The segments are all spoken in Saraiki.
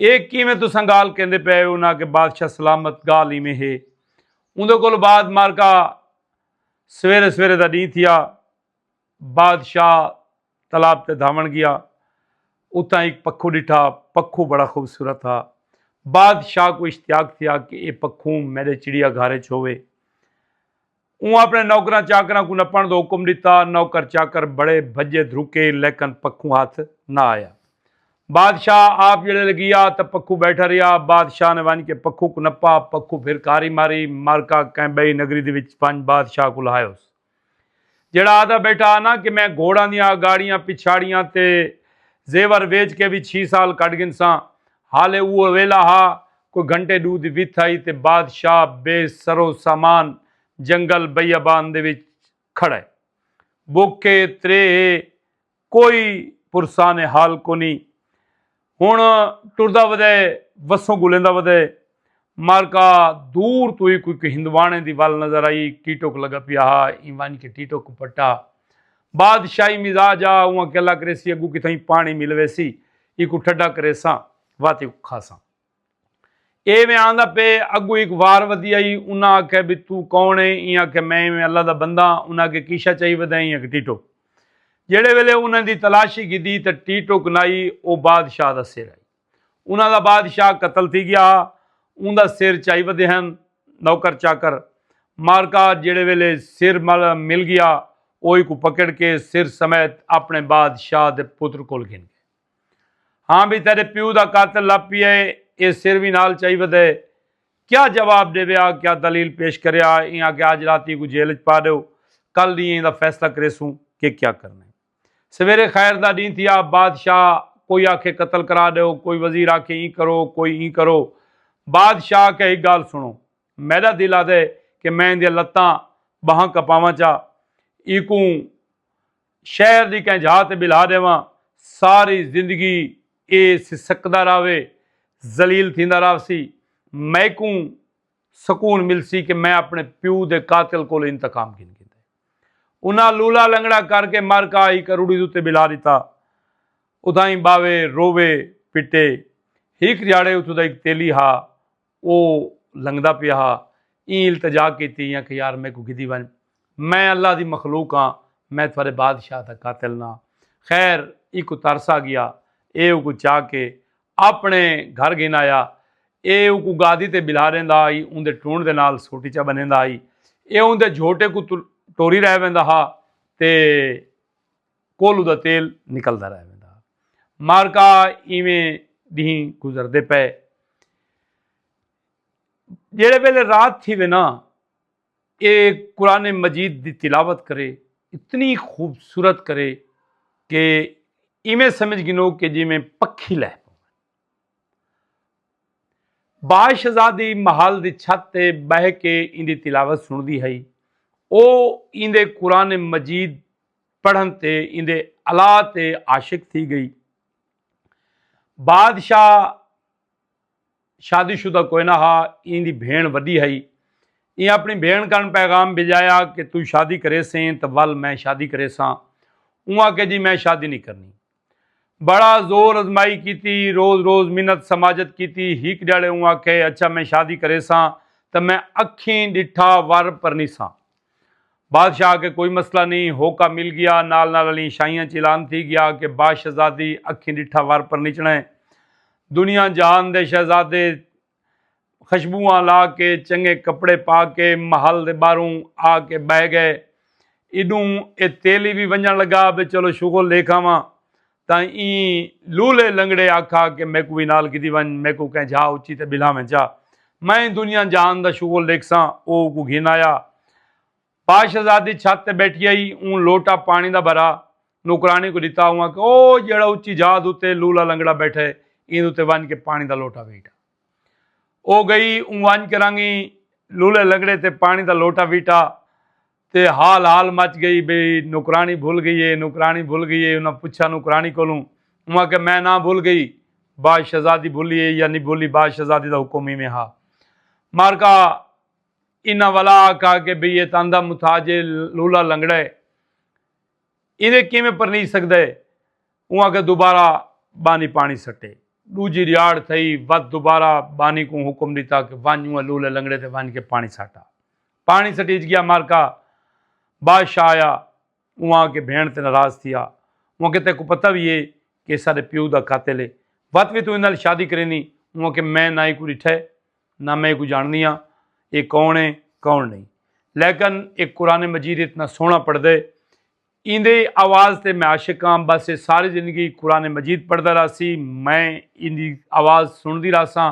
اے کیویں تساں گالھ کیندے پئے ہو انہاں آکھیا بادشاہ سلامت گالھ ایویں ہے اوندے کولھ بعد مارکا سویرے سویرے دا ڈینہہ تھیا بادشاہ تالاب تے دھاون گیا اتھاں ایک پکھو ڈٹھا پکھو بڑا خوبصورت ہا بادشاہ کو اشتیاق تھیا کہ اے پکھو میڈے چڑیا گھر وچ ہووے اوں اپنے نوکراں چاکراں کوں نپنڑ دا حکم ڈتا۔ نوکر چاکر بڑے بھجے دھرکے لیکن پکھوں ہتھ نہ آیا۔ بادشاہ آپ جڑے لے گیا تاں پکھوں بیٹھا رہیا۔ بادشاہ نے ونج کے پکھوں کوں نپا۔ پکھوں پھر کاری ماری مارکا کہیں بئی نگری دے وچ ونج بادشاہ کول ہائیوس۔ جیڑھا آدھا بیٹھا ہا نہ کہ میں گھوڑاں دیاں اگاڑیاں پچھاڑیاں تے زیور ویچ کے وی چھی سال کڈ گھنساں۔ حالے اوہو ویلھا ہا، کوئی گھنٹے ݙو دی وتھ ہئی تے بادشاہ بے سرو سامان جنگل بیابان دے وچ کھڑے۔ بکھ اے، تریہہ اے، کوئی پرسان حال کونی۔ ہݨ ٹردا ودے، وسوں گھلیندا ودے۔ معرکہ دور توں ہی کوئی کوئی ہندواݨے دی ول نظر آئی ٹیٹک لگا پیا ہا ایں ونج کے ٹیٹک پٹا بادشاہی مزاج آ اواں کے اللہ کریسی اگو کتھائیں پانی مل ویسی ایکو ٹھڈا کریساں واتے کو کھاساں ایویں آندا پے اگو ایک وار ودی آئی انہاں آکھے بھی تو کون ہے ایں آکھے میں ایویں اللہ دا بندہ انہاں کے کیشا چاہی ودا ایں اک ٹیٹک جیڑے ویلے انہاں دی تلاشی گدی تے ٹیٹک نائی او بادشاہ دا سر آئی انہاں دا بادشاہ قتل تھی ڳیا ہا۔ اوں دا سر چائی ودے ہن نوکر چاکر۔ مارکا جیڑھے ویلے سر مل ڳیا او ایکوں پکڑ کے سر سمیت اپݨے بادشاہ دے پتر کول گھن ڳئے۔ ہاں بھئی تیݙے پیو دا قاتل لبھ پیا ہے اے سر وی نال چائی ودے۔ کیا جواب ݙیویا کیا دلیل پیش کریا اے ایں آکھیا اڄ راتی ایکوں جیل اچ پا ݙیو کل ݙینہہ ایندا فیصلہ کریسوں کہ کیا کرݨا ہے۔ سویرے خیر دا ڈینہہ تھیا، بادشاہ کوئی آکھے قتل کرا ڈیو، کوئی وزیر آکھے ایں کرو، کوئی ایں کرو۔ بادشاہ آکھیا ہک گالھ سنڑو، میڈا دل آدھے کہ میں ایندیاں لتاں، بانہاں کپاواں چا، ایکوں شہر دی کہیں جھاہ تے بلہا ڈیواں، ساری زندگی اے سسکدا راہوے، ذلیل تھیندا راہسی، میکوں سکون ملسی کہ میں اپنڑے پیو دے قاتل کولو انتقام گھن گھندے۔ انہاں لولا لنگڑا کر کے مر کا ہی کروڑی دے اتے بلا ݙتا۔ اتھائیں ٻاوے، رووے، پٹے۔ ہک جھاڑے اتھوں دا ہک تیلی ہا او لنگھدا پیا ہا۔ ایں التجا کیتی ایں آکھیا یار میکوں گھدی ونڄ۔ میں اللہ دی مخلوق ہاں میں تھوارے بادشاہ دا قاتل نہ۔ خیر ایکوں ترس آ ڳیا۔ ایہ اوکوں چا کے آپݨے گھر گھن آیا۔ اے اوکوں گادی تے ٻلھا ݙیندا ہئی، اوندے ٹونڑ دے نال سوٹی چا ٻنھیندا ہئی۔ اے اوندے جھوٹے کوں ٹوری رہ ویندا ہا تے کولو دا تیل نکلدا رہ ویندا ہا۔ مارکا ایویں ݙینھ گزردے پئے۔ جیڑھے ویلے رات تھیوے ناں اے قرآن مجید دی تلاوت کرے اتنی خوبصورت کرے کہ ایویں سمجھ گنو کہ جی میں پکھی لہ پو باش شہزادی محل دی چھت تے بہ کے ایندی تلاوت سن دی ہئی او ایندے قرآن مجید پڑھن تے ایندے علا تے عاشق تھی گئی بادشاہ شادی شدہ کوئے نہ ہا ایں دی بھیݨ وݙی ہئی ایں اپݨی بھیݨ کن پیغام بھیڄایا کہ توں شادی کریسیں تاں ول میں شادی کریساں اوں آکھیا جی میں شادی نی کرنی بڑا زور ازمائی کیتی روز روز منت سماجت کیتی ہک ڈیہاڑے اوں آکھے اچھا میں شادی کریساں تاں میں اکھیں ڈٹھا ور پرنیساں۔ بادشاہ آکھے کوئی مسئلہ نی، ہوکا مل گیا، نال نال الیں شاہیاں چ اعلان تھی گیا کہ باشہزادی اکھیں ڈٹھا ور پرنچنڑے، دنیا جہان دے شہزادے خشبواں لا کے چنگے کپڑے پا کے محل دے باہروں آ کے بہہ گئے، ایڈوں اے تیلی وی ونجنڑ لگا بے چلو شغل ڈیکھاواں، تاں ایں لولے لنگڑے آکھا کہ میکوں وی نال گھدی ونج میکوں کہیں جھا اچی تے بلھا ویں چا میں دنیا جہان دا شغل ڈیکھساں او اوکوں گھن آیا پاش شہزادی چھت تے بیٹھی ہئی اوں لوٹا پانی دا بھرا نوکرانی کوں ڈتا اوں آکھیا او جیہڑا اچی جھا دوتے لولا لنگڑا بیٹھا ہے ایں دوتے ونج کے پانی دا لوٹا ویٹا او گئی اوں ونج کے رنگ ایں لولے لنگڑے تے پانی دا لوٹا ویٹا تے ہال ہال مچ گئی بھئی نوکرانی بھل گئی ہے نوکرانی بھل گئی ہے انہاں پچھا نوکرانی کولوں اوں آکھیا میں نہ بھل گئی بعد شہزادی بھلی ہے یا نی بھلی بعد شہزادی دا حکم ایویں ہا مارکا انہاں ولا آکھا کہ بھئی اے تاں اندھا متھاج ہے لولا لنگڑا ہے ایندے کیویں پرنی سکدا ہے اوں آکھیا دوبارہ بانی پانی سٹے ڈوجی ریاڑ تھئی ود دوبارہ بانی کوں حکم ڈتا کہ ونج اوں لولے لنگڑے تے ونج کے پانی سٹا پاݨی سٹیج ڳیا مارکا بادشاہ آیا اواں کے بھیݨ تے ناراض تھیا اواں کے تیکوں پتہ وی ہے کہ اساݙے پیو دا قاتل ہے وت وی توں ایں نال شادی کرینی اواں کے میں نہ ایکوں ݙٹھا ہے نہ میں ایکوں جاݨدی ہاں اے کون ہے کون نہیں لیکن اے قرآن مجید اتنا سوہݨا پڑھدے ایندے آواز تے میں عاشق ہاں بس ایہ ساری زندگی قرآن مجید پڑھدا رہسی میں ایندی آواز سنڑدی رہساں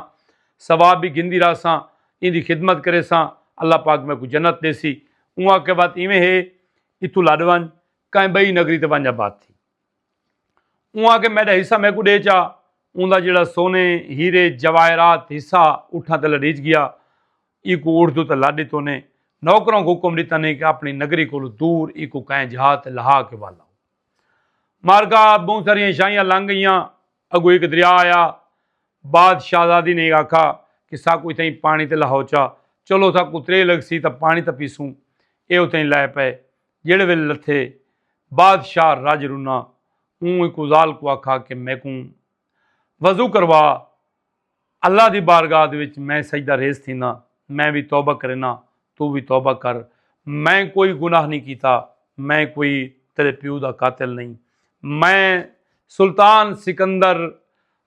ثواب وی گھندی رہساں ایندی خدمت کریساں اللہ پاک میکوں جنت ڈیسی اوں آکھیا وت ایویں ہے اتھوں لڈ ونج کہیں بئی نگری تے ونج آباد تھی اوں آکھیا میڈا حصہ میکوں ڈے چا اوندا جیڑا سونے ہیرے جواہرات حصہ اٹھاں تے لڈیج گیا ایکوں اڑدو تے لا ڈتو نے نوکراں کوں حکم ڈتا نے کہ اپنی نگری کولو دور ایکوں کئیں جھا تے لہا کے ول آؤ۔ معرکہ بہوں ساریاں شاہیاں لنگ گئیاں اگوں ہک دریا آیا۔ بعد شاہزادی نے آکھا کہ ساکوں اتھائیں پانی تے لہو چا چلو ساکوں تریہ لگسی تاں پانی تاں پیسوں۔ ایہ اتھائیں لہہ پئے۔ جیڑھے ویلے لتھے۔ بعد شاہ رج رنا اوں ایکوں زال کوں آکھا کہ میکوں وضو کروا اللہ دی بارگاہ دے وچ میں سجدہ ریز تھینداں، میں وی توبہ کرینداں، توں وی توبہ کر، میں کوئی گناہ نئیں کیتا، میں کوئی تیرے پیو دا قاتل نئیں، میں سلطان سکندر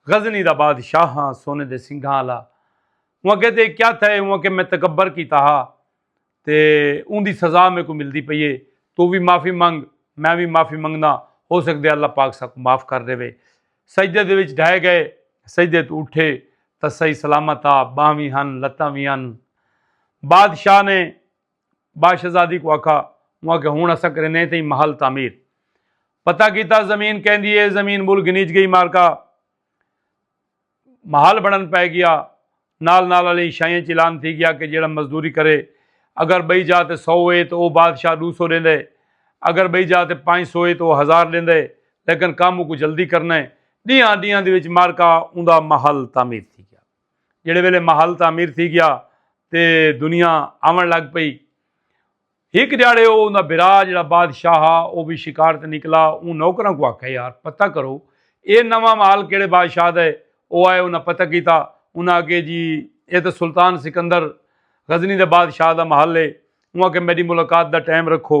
غزنی دا بادشاہ ہاں، سونے دے سنگھاں آلا، اوں آکھیا تے کیا تھئے، اوں آکھیا میں تکبر کیتا ہا، تے اوندی سزا میکوں ملدی پئی اے توں وی معافی منگ میں وی معافی منگداں ہو سگدے اللہ پاک ساکوں معاف کر ڈیوے سجدے دے وچ ڈھئے گئے سجدے توں اٹھے تاں صحیح سلامت آ بانہہ وی ہن لتاں وی ہن بادشاہ نے باشہزادی کوں آکھا اوں آکھیا ہن اساں کریندیں تئیں محل تعمیر پتہ کیتا زمین کیندی اے زمین مل گھنیج گئی مالکا محال بنڑن پئے گیا نال نال آلیں شائیں اچ اعلان تھی گیا کہ جیڑھا مزدوری کرے اگر بئی جاہ تے سو اے تاں او بادشاہ ڈو سو ڈیندے اگر بئی جاہ تے پنج سو اے تاں او ہزار ڈیندے لیکن کم اوکوں جلدی کرنا اے ڈیہاں ڈیہاں دے وچ مارکا اوندا محل تعمیر تھی گیا جیڑھے ویلے محل تعمیر تھی گیا تے دنیا آون لگ پئی۔ ہک ڈھیاڑے او اوندا بھرا جیڑھا بادشاہ ہا او وی شکار تے نکلا اوں نوکراں کوں آکھیا یار پتہ کرو اے نواں مال کیڑھے بادشاہ دا ہے او آئے انہاں پتہ کیتا انہاں آکھے جی اے تاں سلطان سکندر غزنی دے بادشاہ دا محل ہے اوں آکھے میڈی ملاقات دا ٹائم رکھو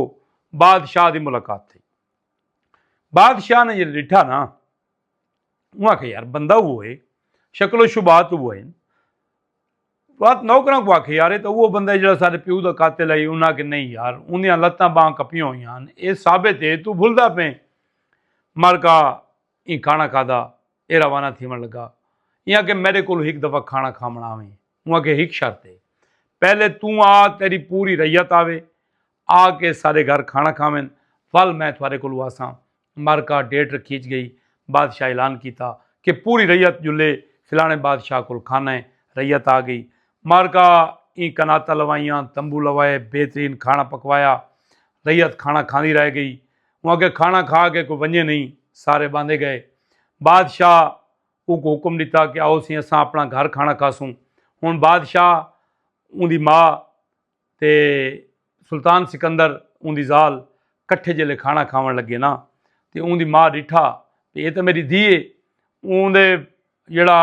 بادشاہ دی ملاقات تھئی بادشاہ نے جیڑھے ڈٹھا نا انہوں آکھیا یار بندہ اوہو ہے شکل و شبہات اوہو ہن وات نوکراں کو آکھیا یار اے تاں اوہو بندہ ہے جیڑا سارے پیو دا قاتل ہے انہاں کہ نہیں یار اوندیاں لتاں باں کپیاں ہویاں ہن اے ثابت ہے تو بھلدا پیں مالکا ایں کھانا کھادا اے روانہ تھیون لگا انہاں کہ میرے کولو ہک دفعہ کھانا کھاونا آویں انہاں کہ ہک شرط ہے پہلے تو آ تیری پوری ریت آوے آ کے سارے گھر کھانا کھاویں ول میں تھارے کولو آساں مرکہ ڈیٹ رکھیج گئی بادشاہ اعلان کیتا کہ پوری رعیت جلے فلانے بادشاہ کول کھانا ہے رعیت آ گئی مارکہ ایں کناتاں لوائیاں تمبو لوائے بہترین کھانا پکوایا رعیت کھانا کھاندی رہ گئی ہوں اگے کھانا کھا کے کوئی ونجے نہیں سارے باندھے گئے بادشاہ او کو حکم دیتا کہ آؤ سی اساں اپنا گھر کھانا کھاسوں ہوں بادشاہ اون دی ماں تے سلطان سکندر اوندی ذال کٹھے جیلے کھانا کھاون لگے نا تے اوندی ماء ڈٹھا تے ایہ تاں میڈی دھی ہے اوندے جیڑھا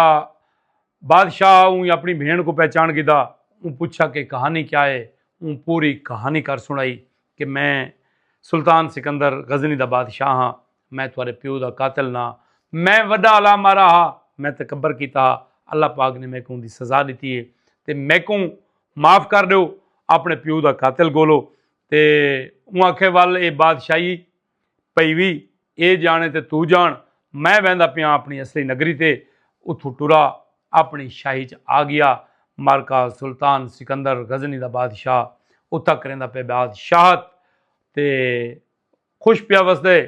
بادشاہ اوں اپنی بھین کوں پہچان گھدا اوں پچھا کہ کہانی کیا ہے اوں پوری کہانی کر سنڑائی کہ میں سلطان سکندر غزنی دا بادشاہ ہاں میں تہاڈے پیو دا قاتل نہ ہاں۔ میں وڈا الا مارا ہا۔ میں تکبر کیتا ہا۔ اللہ پاک نے میکوں اوندی سزا ڈتی ہے۔ تے میکوں معاف کر ڈیو۔ اپنے پیو دا قاتل گولو۔ تے اوں آکھے ول اے بادشاہی پئی وی اے جانے تے توں جان۔ میں ویندا پیاں اپنی اصلی نگری تے۔ اتھوں ٹرا اپنی شاہی چ آ گیا۔ مارکا سلطان سکندر غزنی دا بادشاہ اتھا کریندا پے بادشاہت۔ تے۔ خوش پیا وسدے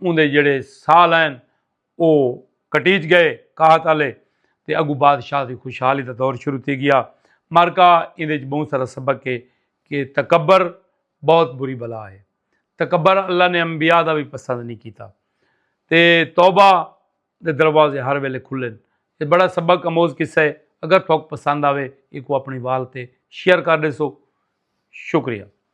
اوندے جیڑھے سال ہن او کٹیج گئے قحط آلے تے اگوں بادشاہ دی خوشحالی دا دور شروع تھی گیا معرکہ ایندے وچ بہوں سارا سبق ہے کہ تکبر بہت بری بلا ہے تکبر اللہ نے انبیاء دا وی پسند نہیں کیتا تے توبہ دے دروازے ہر ویلے کھلن یہ بڑا سبق اموز قصہ ہے اگر تھوک پسند آوے ایکو اپنی وال تے شیئر کر دے سو شکریہ